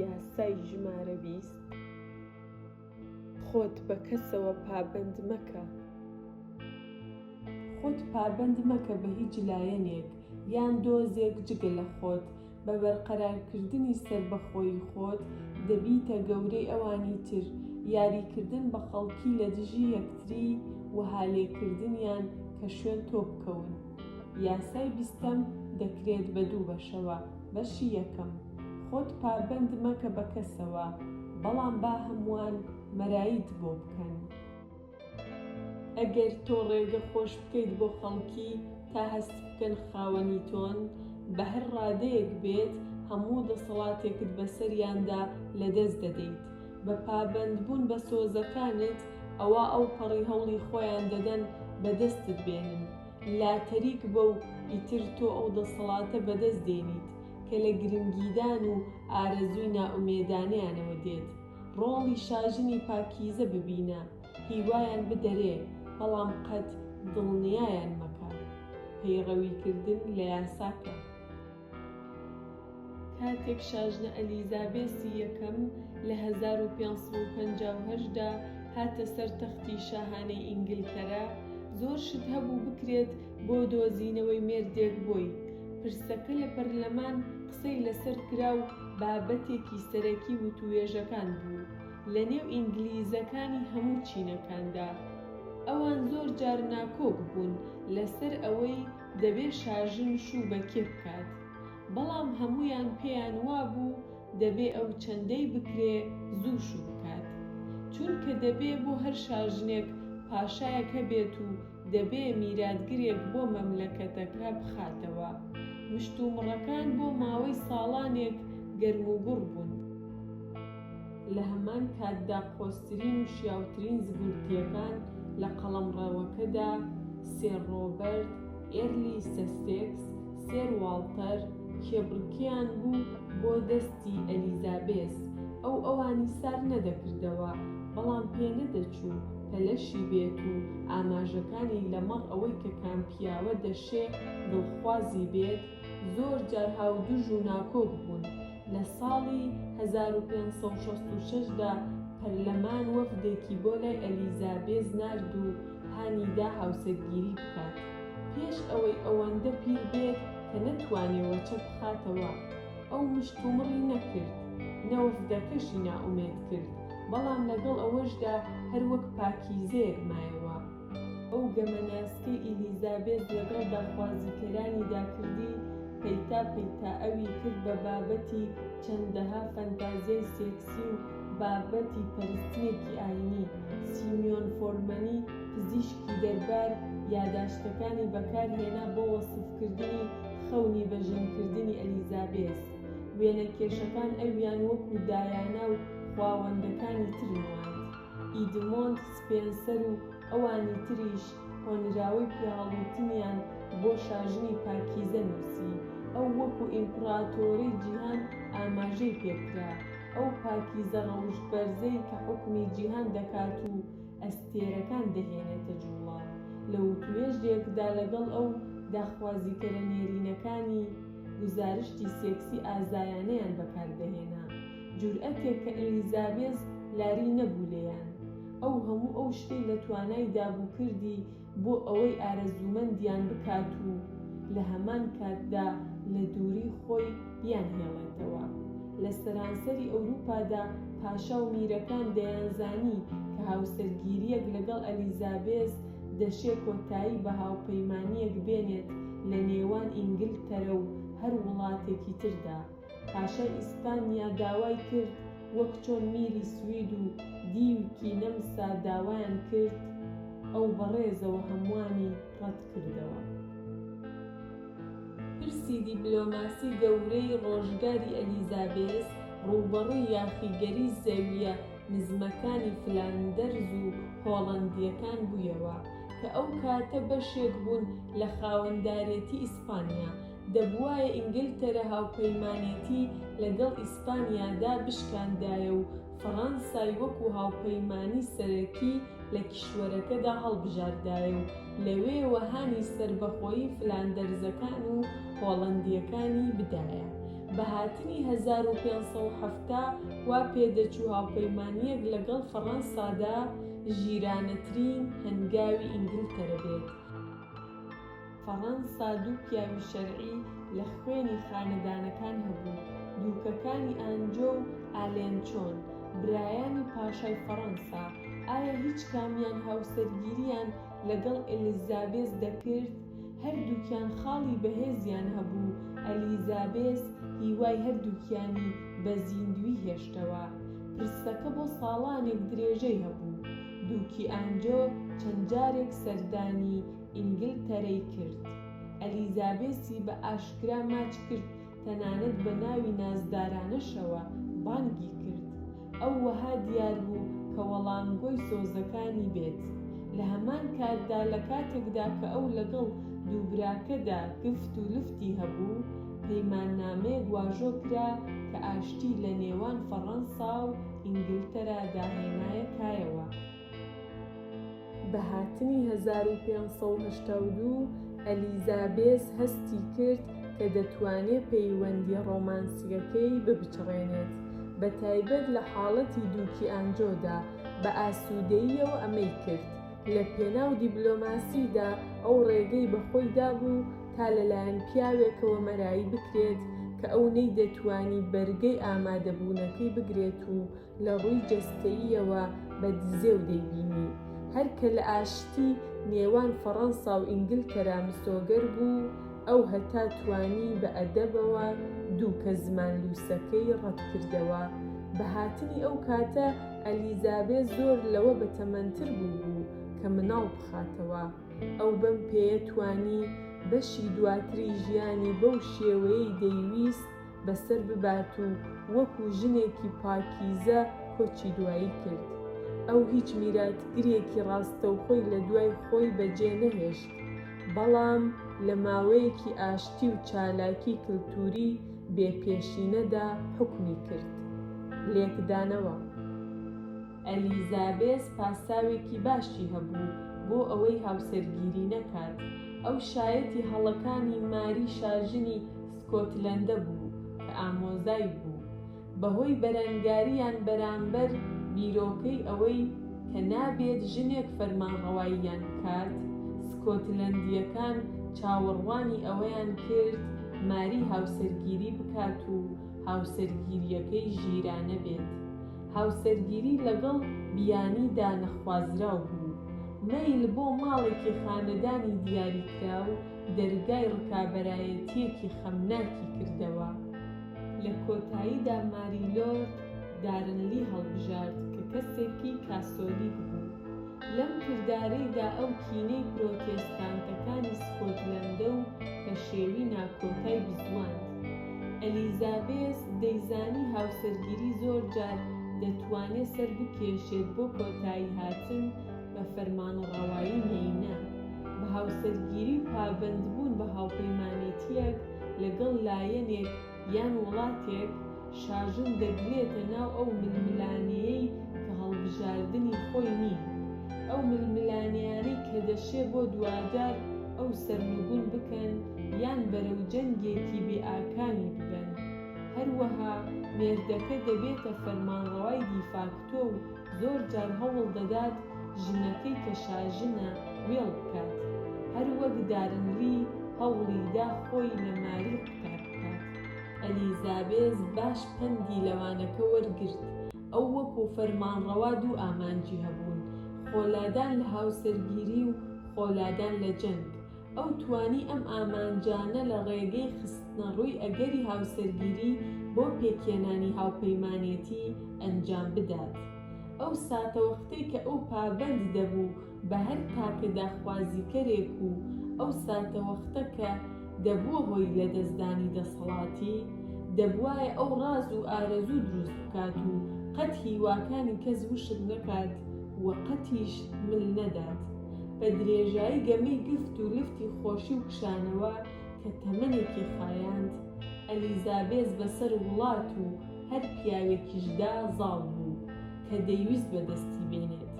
یاسای ژمارە بیست، خۆت بە کەسەوە پابەند مەکە. خۆت پابەند مەکە بە هیچ لایەنێک یان دۆزێک جگە لە خۆت، بە بەرقەرارکردنی سەربەخۆیی خۆت دەبیتە گەورەی ئەوانی تر، یاریکردن بە خەڵکی لە دژی یەکتری وەها لێکردنیان کە شوێن تۆ بکەون. یاسای بیستەم دەکرێت بە دوو بەشەوە، بەشی یەکەم، خۆت پابەند مەکە بە کەسەوە، بەڵام با هەمووان مەراییت بۆ بکەن. ئەگەر تۆ ڕێگە خۆش بکەیت بۆ خەڵکی تا هەست بکەن خاوەنی تۆن، بە هەر ڕادەیەک بێت، هەموو دەسەڵاتێکت بەسەریاندا لەدەست دەدەیت. بە پابەندبوون بە سۆزەکانت، ئەوا ئەوپەڕی هەوڵی خۆیان دەدەن بەدەستت بێنن. لا تەریک بە و ئیتر تۆ ئەو دەسەڵاتە بەدەست دێنیت کە لە گرنگیدان و ئارەزووی نائومێدانەیانەوە دێت. ڕۆڵی شاژنی پاکیزە ببینە، هیوایان بدەرێ، بەڵام قەت دڵنیایان مەکە. پەیڕەویکردن لە یاساکە. کاتێک شاژنە ئەلیزابێسی یەکەم لە هەزار و پێنج سەد و پەنجا و هەشت دا هاتە سەر تەختی شاهانەی ئینگلتەرا، زۆر شت هەبوو بکرێت بۆ دۆزینەوەی مێردێک بۆی. پرسەکە لە پەرلەمان قسەی لەسەر کرا و بابەتێکی سەرەکی وتووێژەکان بوو لە نێو ئینگلیزەکانی هەموو چینەکاندا. ئەوان زۆر جار ناکۆک بوون لەسەر ئەوەی دەبێ شاژن شوو بە کێ بکات، بەڵام هەموویان پێیان وابوو دەبێ ئەو چەندەی بکرێ زوو شوو بکات، چونکە دەبێ بۆ هەر شاژنێک پاشایەک هەبێت و دەبێ میراتگرێک بۆ مەملەکەتەکە بخاتەوە. مشتومڕەکان بۆ ماوەی ساڵانێک گەرموگوڕ بوون. لە هەمان کاتدا قۆزترین و شیاوترین زگورتییەکان لە قەڵەمڕەوەکەدا، سێر ڕۆبەرت، ئێرلی سەسێکس، سێر واڵتەر، کێبڕکێیان بوو بۆ دەستی ئەلیزابێس، ئەو ئەوانی سار نەدەکردەوە، بەڵام پێنەدەچوو پەلەشی بێت و ئاماژەکانی لەمەڕ ئەوەی کە کام پیاوە دەشێ دڵخوازی بێت، زۆرجار هاودژ و ناکۆک بوون. لە ساڵی هەزار و پێنج سەد و شەست و شەش دا پەرلەمان وەفدێکی بۆ لای ئەلیزابێز نارد و هانیدا هاوسەرگیری بکات پێش ئەوەی ئەوەندە پیر بێت کە نەتوانێ وەچە بخاتەوە. ئەو مشتومڕی نەکرد، نە وەفدەکەشی نائومێد کرد، بەڵام لەگەڵ ئەوەشدا هەر وەک پاکیزەیەک مایەوە. ئەو گەمە ناسکەی ئیلیزابێس لەگەڵ داخوازیکەرانیدا کردی، پەیتا پەیتا ئەوی کرد بە بابەتی چەندەها فەنتازیای سێکسی و بابەتی پەرستنێکی ئایینی. سیمیۆن فۆرمەنی پزیشکی دەربار یاداشتەکانی بەکارهێنا بۆ وەسفکردنی خەونی بە ژنکردنی ئەلیزابێس. وێنەکێشەکان ئەویان وەکو دایانا و خواوەندەکانی تر نواند. ئیدمۆند سپێنسەر و ئەوانی تریش هۆنراوەی پیاهەڵوتنیان بۆ شاژنی پاکیزە نووسی. ئەو وەکو ئیمپڕاتۆرەی جیهان ئاماژەی پێکرا، ئەو پاکیزە ڕەوشتبەرزەی کە حوکمی جیهان دەکات و ئەستێرەکان دەهێنێتە جووڵە. لە وتووێژێکدا لەگەڵ ئەو، داخوازیکەرە نێرینەکانی گوزارشتی سێکسی ئازایانەیان بەکاردەهێنا. جورئەتێک کە ئلیزابێز لاری نەبوو لێیان. ئەو هەموو ئەو شتەی لە توانایدا بوو کردی بۆ ئەوەی ئارەزوومەندیان بکات و لە هەمان کاتدا لە دووری خۆی بیانهێڵێتەوە. لە سەرانسەری ئەوروپادا پاشا و میرەکان دەیانزانی کە هاوسەرگیرییەک لەگەڵ ئەلیزابێز دەشێ کۆتایی بە هاوپەیمانییەک بێنێت لە نێوان ئینگلتەرە و هەر وڵاتێکی تردا. پاشای ئیسپانیا داوای کرد وەک چۆن میری سوید و دیوکی نەمسا داوایان کرد، ئەو بە ڕێزەوە هەمووانی ڕەت کردەوە. پرسی دیپلۆماسی گەورەی ڕۆژگاری ئەلیزابێس ڕووبەڕووی یاخیگەری زەوییە نزمەکانی فلاندەرز و هۆڵەندییەکان بوویەوە، کە ئەو کاتە بەشێک بوون لە خاوەندارێتی ئیسپانیا، دەبوایە ئینگلتەرە هاوپەیمانێتی لە گەڵ ئیسپانیا دا بشکاندایە و فەڕانسای وەکوو هاوپەیمانی سەرەکی لە کیشوەرەکە دا هەڵبژاردایە و لەوێوە هانی سەربەخۆیی فلاندەرزەکان و هۆڵەندییەکانی بدایە. بە هاتنی هەزار و پێنج سەد و حەفتا وا پێ دەچوو هاوپەیمانییەک لە گەڵ فەڕانسا دا ژیرانەترین هەنگاوی ئینگلتەرە بێت. فەڕەنسا دوو پیاوی شەرعی لە خوێنی خانەدانەکان هەبوو، دووکەکانی ئانجۆ و ئالێنچۆن، برایانی پاشای فەڕەنسا، ئایا هیچ کامیان هاوسەرگیرییان لەگەڵ ئێلیزابێس دەکرد؟ هەردووکیان خاڵی بەهێزیان هەبوو، ئەلیزابێس هیوای هەردووکیانی بە زیندووی هێشتەوە. پرسەکە بۆ ساڵانێک درێژەی هەبوو. دووکی ئانجۆ چەند جارێک سەردانی ئینگلتەرەی کرد، ئەلیزابێسی بە ئاشکرا ماچ کرد، تەنانەت بە ناوی نازدارانەشەوە بانگی کرد. ئەو وەها دیار بوو کە وەڵامگۆی سۆزەکانی بێت. لە هەمان کاتدا لە کاتێکدا کە ئەو لەگەڵ دوو براکەدا گفت و لفتی هەبوو، پەیماننامەیەک واژۆ کرا کە ئاشتی لە نێوان فەڕەنسا و ئینگلتەرادا هێنایە کایەوە. بە هاتنی هەزار و پێنج سەد و هەشتا و دوو، ئەلیزابێس هەستی کرد کە دەتوانێت پەیوەندییە ڕۆمانسییەکەی بپچڕێنێت، بە تایبەت لە حاڵەتی دووکی ئانجۆدا، بە ئاسوودەییەوە ئەمەی کرد. لە پێناو دیبلۆماسیدا ئەو ڕێگەی بە خۆی دابوو تا لەلایەن پیاوێکەوە مەرایی بکرێت کە ئەو نەیدەتوانی بەرگەی ئامادەبوونەکەی بگرێت و لە ڕووی جەستەییەوە بە دزێو دەیبینی، هەر کە لە ئاشتی نێوان فەڕەنسا و ئینگلتەرا مسۆگەر بوو، ئەو هەتا توانی بە ئەدەبەوە دووکە زمان لووسەکەی ڕەت کردەوە. بە هاتنی ئەو کاتە ئەلیزابێ زۆر لەوە بەتەمەنتر بووبوو کە مناڵ بخاتەوە. ئەو بەم پێیە توانی بەشی دواتری ژیانی بەو شێوەیەی دەیویست، بەسەر ببات و وەکو ژنێکی پاکیزە کۆچی دوایی کرد. ئەو هیچ میراتگرێکی ڕاستەوخۆی لە دوای خۆی بەجێ نەهێشت، بەڵام لە ماوەیەکی ئاشتی و چالاکی کلتوری بێ پێشینەدا حوکمی کرد. لێکدانەوە. ئەلیزابێس پاساوێکی باشی هەبوو بۆ ئەوەی هاوسەرگیری نەکات. ئەو شایەتی هەڵەکانی ماری شاژنی، سکۆتلەندە بوو کە ئامۆزای بوو، بەهۆی بەرەنگارییان بەرامبەر بیرۆکەی ئەوەی کە نابێت ژنێک فەرمانڕەواییان بکات، سکۆتلەندییەکان چاوەڕوانی ئەوەیان کرد ماری هاوسەرگیری بکات و هاوسەرگیرییەکەی ژیرانە بێت. هاوسەرگیری لەگەڵ بیانیدا نەخوازراو بوو. مەیل بۆ ماڵێکی خانەدانی دیاریکراو دەرگای ڕکابەرایەتییەکی خەمناکی کردەوە. لە کۆتاییدا ماری لۆرد دارنلی هەڵبژارد کە کەسێکی کاسۆلیک بوو. لەم کردارەیدا ئەو کینەی پرۆتێستانتەکانی سکۆتلەندە و پەشێوی ناکۆتای بزواند. ئەلیزابێس دەیزانی هاوسەرگیری زۆرجار دەتوانێت سەربکێشێت بۆ کۆتاییهاتن بە فەرمانڕەوایی مێینە، بە هاوسەرگیری و پابەندبوون بە هاوپەیمانێتییەک لەگەڵ لایەنێک یان وڵاتێک، شاژن دەگرێتە ناو ئەو ململانێیەی کە هەڵبژاردنی خۆی نین، ئەو ململانێیانەی کە دەشێ بۆ دواجار ئەو سەرنگون بکەن یان بەرەو جەنگێکی بێئاکامی ببەن. هەروەها مێردەکە دەبێتە فەرمانڕەوای دیفاکتۆ و زۆر جار هەوڵ دەدات ژنەکەی کە شاژنە وێڵ بکات، هەر وەک دارن لی هەوڵی دا خۆی لە ماری قوتار بکات. ئەلیزابێس باش پەندی لە وانەکە وەرگرت، ئەو وەکو فەرمانڕەوا دوو ئامانجی هەبوون، خۆلادان لە هاوسەرگیری و خۆلادان لە جەنگ. ئەو توانی ئەم ئامانجانە لە ڕێگەی خستنەڕووی ئەگەری هاوسەرگیری بۆ پێکهێنانی هاوپەیمانێتی ئەنجام بدات. ئەو ساتەوەختەی کە ئەو پابەند دەبوو بە هەر تاکە داخوازیکەرێک و ئەو ساتەوەختە کە دەبووە هۆی لەدەستدانی دەسەڵاتی، دەبوایە ئەو ڕاز و ئارەزوو دروست بکات و قەت هیواکانی کەس وشک نەکات و قەتیش مل نەدات. بە درێژایی گەمەی گفت و لفتی خۆشی و کشانەوە کە تەمەنێکی خایاند، ئەلیزابێس بەسەر وڵات و هەر پیاوێکیشدا زاڵ بوو کە دەیویست بەدەستی بێنێت.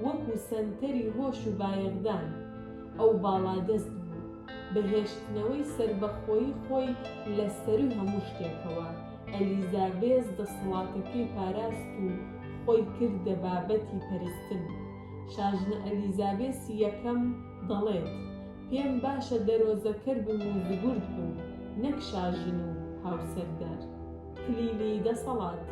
وەکو سەنتەری هۆش و بایەخدان، ئەو باڵادەست بوو، بە هێشتنەوەی سەربەخۆیی خۆی لە سەرووی هەموو شتێکەوە، ئەلیزابێس دەسەڵاتەکەی پاراست و خۆی کردە بابەتی پەرستن. شاژنە ئەلیزابێسی یەکەم دەڵێت، پێم باشە دەرۆزەکەر بم و زگورد بم، نەک شاژن و هاوسەردار. کلیلی دەسەڵات.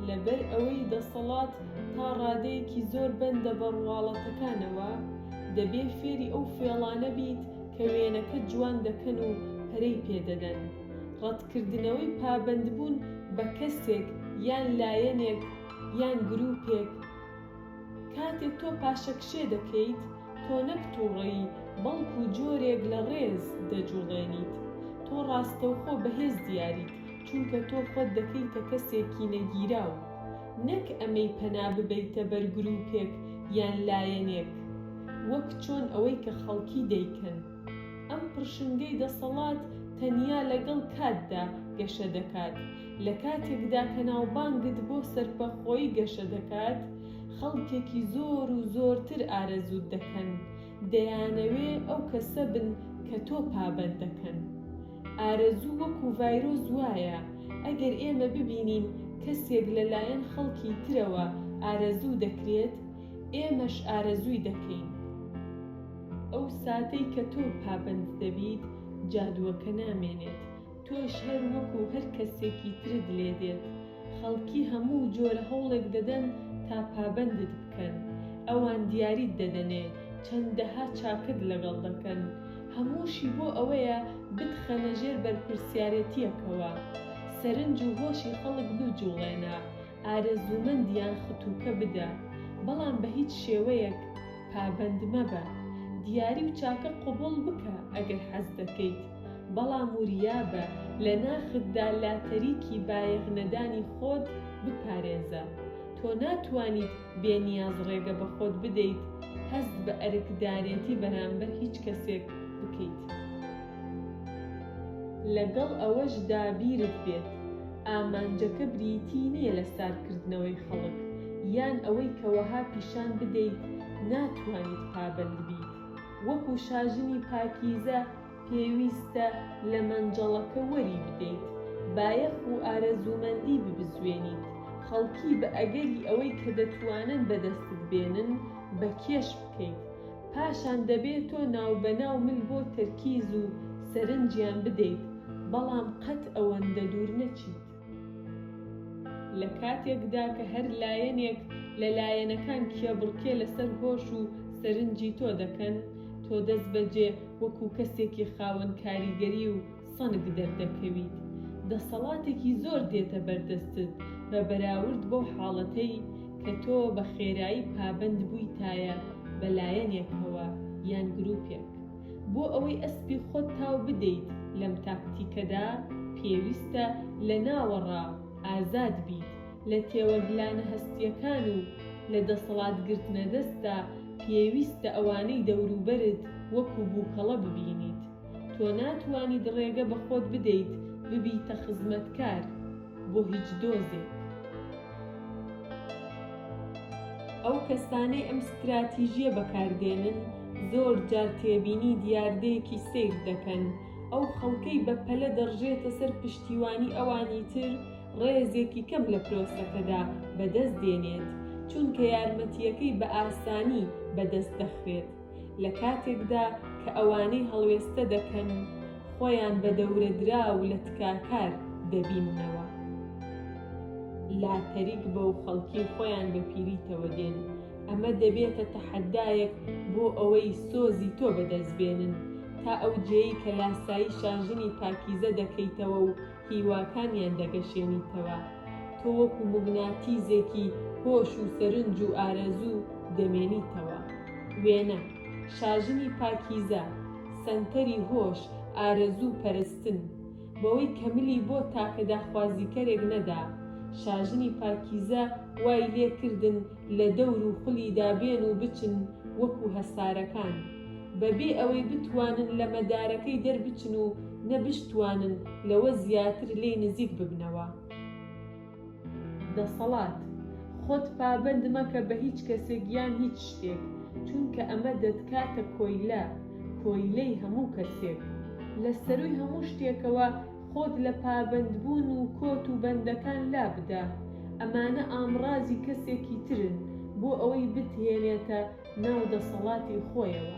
لەبەر ئەوەی دەسەڵات تا ڕادەیەکی زۆر بەندە بە ڕواڵەتەکانەوە، دەبێ فێری ئەو فێڵانە بیت کە وێنەکەت جوان دەکەن و پەرەی پێ دەدەن. ڕەتکردنەوەی پابەندبوون بە کەسێک یان لایەنێک یان گرووپێک، کاتێک تۆ پاشەکشێ دەکەیت، تۆ نەک تووڕەیی، بەڵکوو جۆرێک لە ڕێز دەجووڵێنیت. تۆ ڕاستەوخۆ بەهێز دیاریت، چونکە تۆ خۆت دەکەیتە کەسێکی نەگیراو. نەک ئەمەی پەنا ببەیتە بەر گرووپێک یان لایەنێک، وەک چۆن ئەوەی کە خەڵکی دەیکەن. ئەم پڕشنگەی دەسەڵات تەنیا لەگەڵ کاتدا گەشە دەکات، لە کاتێکدا کە ناوبانگت بۆ سەرپەخۆیی گەشە دەکات، خەڵکێکی زۆر و زۆرتر ئارەزووت دەکەن، دەیانەوێ ئەو کەسە بن کە تۆ پابەند دەکەن. ئارەزوو وەکو ڤایرۆس وایە، ئەگەر ئێمە ببینین کەسێک لە لایەن خەڵکی ترەوە ئارەزوو دەکرێت، ئێمەش ئارەزووی دەکەین. ئەو ساتەی کە تۆ پابەند دەبیت جادووەکە نامێنێت تۆش هەر وەکو هەر کەسێکی ترت لێ دێت خەڵکی هەموو جۆرە هەوڵێک دەدەن تا پابەندت بکەن ئەوان دیاریت دەدەنێ چەندەها چاکەت لەگەڵ دەکەن هەمووشی بۆ ئەوەیە بتخەنە ژێر بەرپرسیارێتیەکەوە سەرنج و هۆشی خەڵک بجوڵێنە ئارەزوومەندیان ختووکە بدە، بەڵام بە هیچ شێوەیەک پابەند مەبە. دیاری و چاکە قبووڵ بکە ئەگەر حەز دەکەیت، بەڵام وریا بە لە ناختدا لاتەریکی بایەخ نەدانی خۆت بپارێزە. تۆ ناتوانیت بێ نیاز ڕێگە بە خۆت بدەیت هەست بە ئەرکدارێتی بەرامبەر هیچ کەسێک بکەیت. لەگەڵ ئەوەشدا بیرت بێت ئامانجەکە بریتی نیە لە سارکردنەوەی خەڵک یان ئەوەی کە وەها پیشان بدەیت ناتوانیت پابەندبیت وەکو شاژنی پاکیزە، پێویستە لە مەنجەڵەکە وەری بدەیت، بایەخ و ئارەزوومەندی ببزوێنیت، خەڵکی بە ئەگەری ئەوەی کە دەتوانن بەدەستت بێنن، بە کێش بکەیت. پاشان دەبێ تۆ ناوبەناو مل بۆ تەرکیز و سەرنجیان بدەیت، بەڵام قەت ئەوەندە دوور نەچیت. لە کاتێکدا کە هەر لایەنێک لە لایەنەکان کێبڕکێ لەسەر هۆش و سەرنجی تۆ دەکەن، تۆ دەستبەجێ وەکو کەسێکی خاوەن کاریگەری و سەنگ دەردەکەویت. دەسەڵاتێکی زۆر دێتە بەردەستت بە بەراورد بەو حاڵەتەی کە تۆ بە خێرایی پابەند بوویتایە بە لایەنێکەوە یان گروپێک. بۆ ئەوەی ئەسپی خۆت تاو بدەیت لەم تاکتیکەدا، پێویستە لە ناوەڕا ئازاد بیت لە تێوەگلانە هەستییەکان و لە دەسەڵات گرتنە دەستدا پێویستە ئەوانەی دەوروبەرت وەکو بووکەڵە ببینیت. تۆ ناتوانیت ڕێگە بە خۆت بدەیت ببیتە خزمەتکار. بۆ هیچ دۆزێک. ئەو کەسانەی ئەم ستراتیژییە بەکاردێنن زۆر جار تێبینی دیاردەیەکی سەیر دەکەن، ئەو خەڵکەی بە پەلە دەڕژێتە سەر پشتیوانی ئەوانی تر ڕێزێکی کەم لە پرۆسەکەدا بەدەست دێنێت، چونکە یارمەتییەکەی بە ئاسانی بەدەست دەخرێت. لە کاتێکدا کە ئەوانەی هەڵوێستە دەکەن خۆیان بە دەورەدراو لە تکاکار دەبیننەوە، لاتەریک بە و خەڵکی خۆیان بە پیریتەوە دێن، ئەمە دەبێتە تەحەدایەک بۆ ئەوەی سۆزی تۆ بەدەست بێنن تا ئەو جێی کە لاسایی شاژنی پاکیزە دەکەیتەوە و هیواکانیان دەگەشێنیتەوە، تۆ وەکو موگناتیزێکی هۆش و سەرنج و ئارەزوو دەمێنیتەوە. وێنە، شاژنی پاکیزە، سەنتەری هۆش، ئارەزوو و پەرستن. بەوەی کە ملی بۆ تاکە داخوازیکەرێک نەدا، شاژنی پاکیزە وای لێ کردن، لە دەور و خولیدا بێن و بچن وەکو هەسارەکان، بەبێ ئەوەی بتوانن لە مەدارەکەی دەربچن و نە بشتوانن لەوە زیاتر لێی نزیک ببنەوە. دەسەڵات، خۆت پابەند مەکە بە هیچ کەسێک یان هیچ شتێک، چونکە ئەمە دەتکاتە کۆیلە، کۆیلەی هەموو کەسێک. لە سەرووی هەموو شتێکەوە، خۆت لە پابەندبوون و کۆت و بەندەکان لابدە، ئەمانە ئامڕازی کەسێکی ترن بۆ ئەوەی بتهێنێتە ناو دەسەڵاتی خۆیەوە.